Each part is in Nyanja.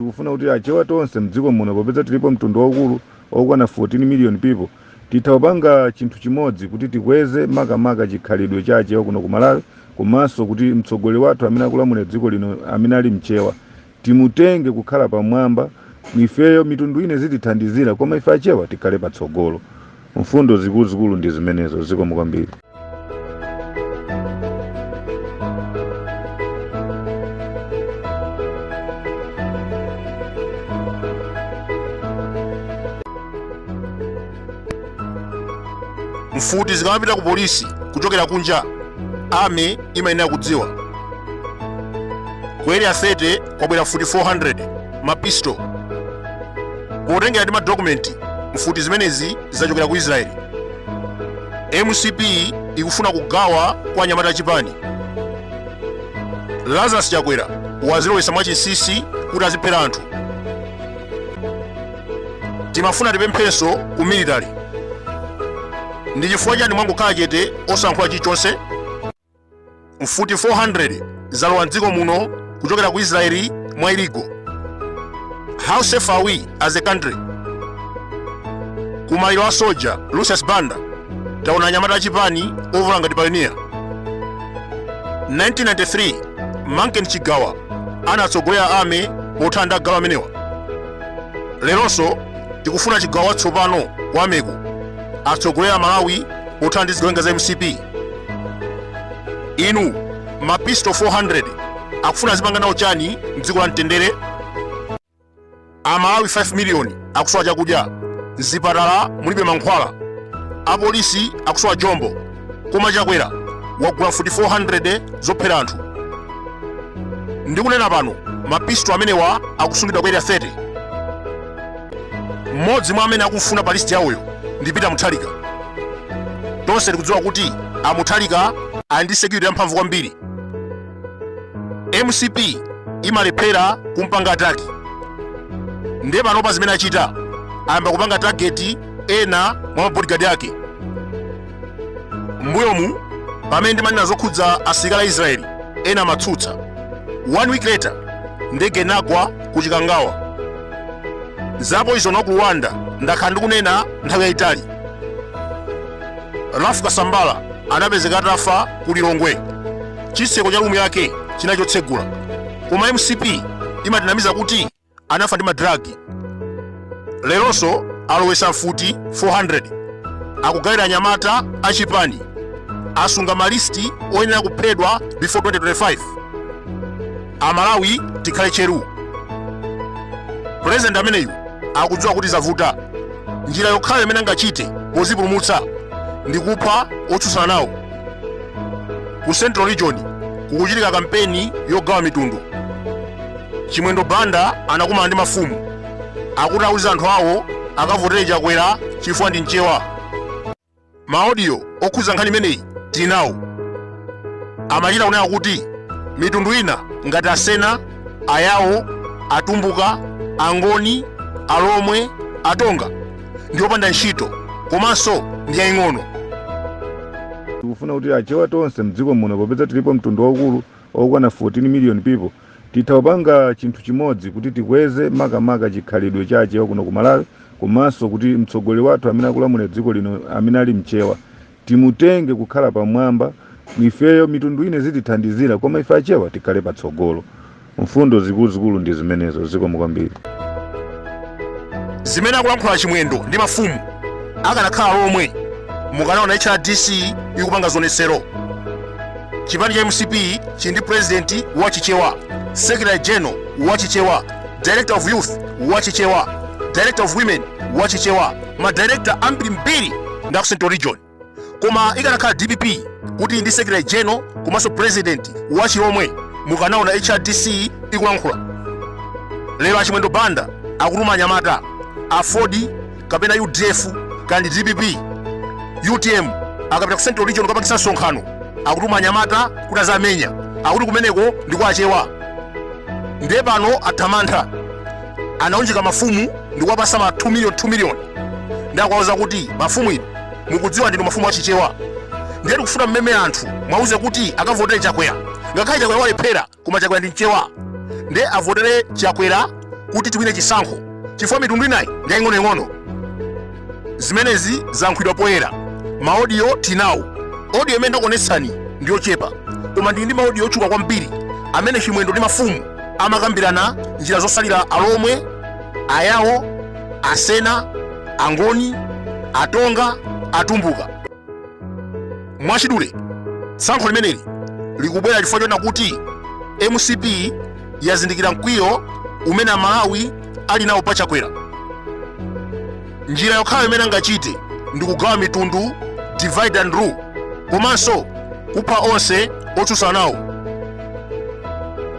Tikufuna kuti achewa tonse mdziko muno popeza tilipo mtundu waukulu okwana 14 million people titha kupanga chinthu chimodzi kuti tikweze makamaka chikhalidwe cha achewa kuno ku Malawi komanso kuti mtsogoleri wathu amene akulamulira dziko lino amene ali mchewa timutenge kukhala pamwamba ifeyo mitundu ina izitithandizira koma ife achewa tikhale patsogolo. Mfundo zikuluzikulu ndi zimenezo. Zikomo kwambiri. mfuti zikamapita ku polisi kuchokera kunja army imayenera kudziwa ku area 30 kwabwera mfuti 400 mapisto potengera ndi madokumenti mfuti zimenezi zachokera ku israeli mcp ikufuna kugawa kwa anyamata achipani lazarus chakwera wazilowesa mwachinsinsi kuti aziphera anthu timafuna tipemphenso ku military ndi chifukwa chani mwangokhala chete osankhula chilichonse mfuti 400 zalowa mdziko muno kuchokera ku israeli mwa illegal how safe are we as a country kumaliro a soja lucius banda taona anyamata achipani ovala ngati payoniya 1993 manken chigawa anatsogolera army pothana ndi agalu amenewa leronso tikufuna chigawa watsopano wa army-ko atsogolere malawi pothana ndi zigawenga za mcp inu mapisto 400 akufuna azipanga nawo chani mdziko la mtendere amalawi 5 miliyoni akusowa chakudya mzipatala mulibe mankhwala apolisi akusowa jombo koma chakwera wagula mfuti 400 zophera anthu ndikunena pano mapisto amenewa akusungidwa ku area 30 mmodzi mwa amene akumfuna pa listi yawoyo ndi peter muthalika tonse tikudziwa kuti a muthalika ali ndi security yamphamvu kwambiri mcp imalephera kumpanga ataki ndiye panopa zimene achita ayamba kupanga tageti ena mwa mabodigadi ake mbuyomu pamene ndimanena zokhudza asilikali a israeli ena amatsutsa one week later ndege inagwa ku chikangawa za poison wa ku rwanda ndakhala ndikunena nthawi yayitali rafu kasambala anapezeka atafa ku lilongwe chitseko cha rumu yake chinali chotsegula koma mcp imatinamiza kuti anafa ndi madragi leronso alowesa mfuti 400 akugawira anyamata achipani asunga malisti oyenera kuphedwa before 2025 amalawi tikhale cheru pulezidenti ameneyu akudziwa kuti zavuta njira yokhayo imene angachite pozipulumutsa ndi kupha otsutsana nawo ku central region kukuchitika kampeni yogawa mitundu Chimwendo Banda anakumana ndi mafumu akuti auze anthu awo akavotere Chakwera chifukwa ndi Mchewa. Maaudio okhudza nkhani imeneyi tinawo. Amachita kunena kuti mitundu ina ngati Asena, Ayawo, Atumbuka, Angoni, Alomwe, Atonga ndi opanda ntchito komanso ndi yaying'ono. tikufuna kuti achewa tonse mdziko muno popeza tilipo mtundu waukulu okwana 14 million people titha kupanga chinthu chimodzi kuti tikweze makamaka chikhalidwe cha achewa kuno ku malawi komanso kuti mtsogoleri wathu amene akulamulira dziko lino amene ali mchewa timutenge kukhala pamwamba ifeyo mitundu ina izitithandizira koma ife achewa tikhale patsogolo mfundo zikuluzikulu ndi zimenezo zikomo kwambiri zimene akulankhula chimwendo ndi mafumu akanakhala alomwe mukanaona hrdc ikupanga zionetsero chipani cha mcp chili ndi purezidenti wa chichewa secretary general wa chichewa director of youth wa chichewa director of women wa chichewa madirekta ambirimbiri ndi aku central region koma ikanakhala dpp kuti ili ndi secretary general komanso purezidenti wa chilomwe mukanaona hrdc ikulankhula lero achimwendo banda akutuma anyamata aford kapena udf kaya ndi dpp utm akapita ku central region kukapangisa msonkhano akutuma anyamata kuti aziwamenya akuti kumeneko ndi kwa achewa ndiye pano athamantha anaunjika mafumu ndi kuwapasa ma 2 million 2 million ndi akuwauza kuti mafumu inu mukudziwa ndinu mafumu achichewa ndiye tikufuna mmeme anthu mwauze kuti akavotere chakwera ngakhale chakwera walephera koma chakwera ndi mchewa nde avotere chakwera kuti tiwine chisankho chifukwa mitundu inayi ndi yaying'onoying'ono zimenezi zalankhulidwa poyera maodiyo tinawo odiyo imene ndakuonetsani ndi yochepa koma ndili ndi maodiyo ochuluka kwambiri amene chimwendo ndi mafumu amakambirana njira zosalira alomwe ayawo asena angoni atonga atumbuka mwachidule tsankho limeneli likubwera chifukwa choona kuti mcp yazindikira mkwiyo umene amalawi ali nawo pa chakwera njira yokhayo imene angachite ndi kugawa mitundu divide and rule komanso kupha onse otsutsana nawo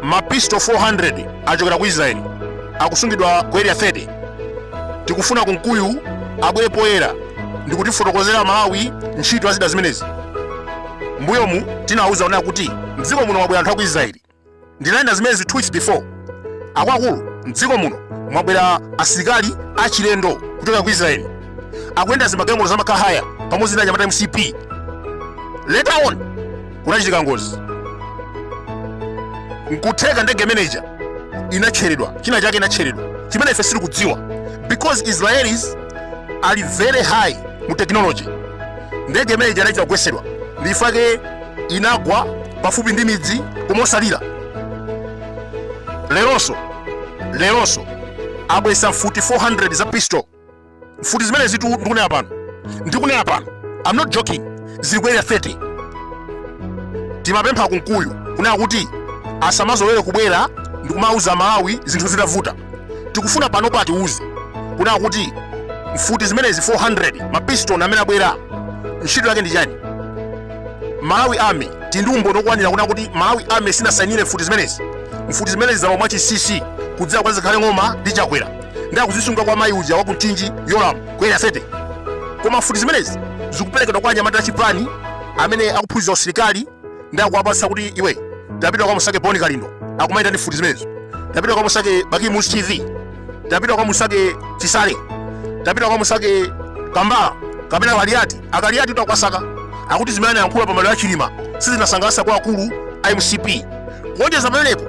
mapisto 400 achokera ku israeli akusungidwa ku area 30 tikufuna kunkuyu abwere poyera ndikutifotokozera amalawi ntchito ya zida zimenezi mbuyomu tinawuza onera kuti mdziko muno mwabwera anthu aku israeli ndinanena zimenezi two weeks before akuluakulu mdziko muno mwabwera asilikali achilendo kuchoka ku israeli akuyenda zimagalimoto zama car hire pamodzi ndi anyamata a mcp later on kunachitika ngozi nkutheka ndege imeneja inatcheredwa china chake inatcheredwa chimene ife sitikudziwa because israelis ali very high mu technology ndege imeneja inachita kugwesedwa ndifake inagwa pafupi ndi midzi koma osalira leronso leronso abwesa mfuti 400 za pistol mfuti zimenezitu ndikunena pano ndikunena pano i'm not joking zili ku area 30 timapempha kunkuyu kunena kuti asamazolowere kubwera ndikumauza amalawi zinthu zitavuta tikufuna panopa atiuze kunena kuti mfuti zimenezi 400 mapistol amene abwera ntchito yake ndi chani malawi army tili ndi umboni okwanira kunena kuti malawi army sinasainire mfuti zimenezi mfuti zimenezi zalowa mwachinsinsi kudzera kwa zikhale ng'oma ndi chakwera ndi akuzisunga kwa mayi uja wa ku mchinji yolamu ku area 30 koma mfuti zimenezi zikuperekedwa kwa anyamata achipani amene akuphunzitsa usilikali ndi akuwapatsa kuti iwe tapita kamusake boni kalindo akumayenda ndi mfuti zimenezo tapita kamusake bakili muluzi tv tapita kamusake chisale tapita kamusake kambala kapena kaliati akaliatitu akuwasaka akuti zimene anayankhula pa maliro a chilima sizinasangalatse akuluakulu a mcp kuonjeza pamenepo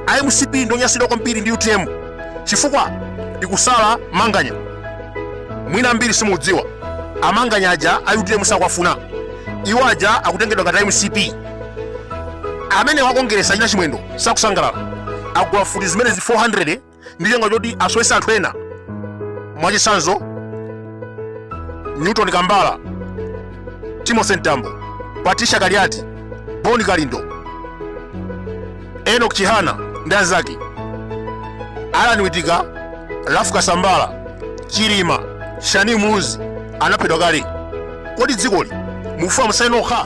a mcp ndi onyansidwa kwambiri ndi utm chifukwa ikusala manganya mwina ambiri simudziwa amanganya aja a utm sakuwafuna iwo aja akutengedwa ngati a mcp amene wakongeresa achina chimwendo sakusangalala agula mfuti zimenezi 400 ndi cholinga choti asowese anthu ena mwachitsanzo newton kambala timothy mtambo patricia kaliati boni kalindo enock chihana ndi anzake allan wittika ralph kasambara chilima shanil muluzi anaphedwa kale kodi dzikoli mukufuna mutsale nokha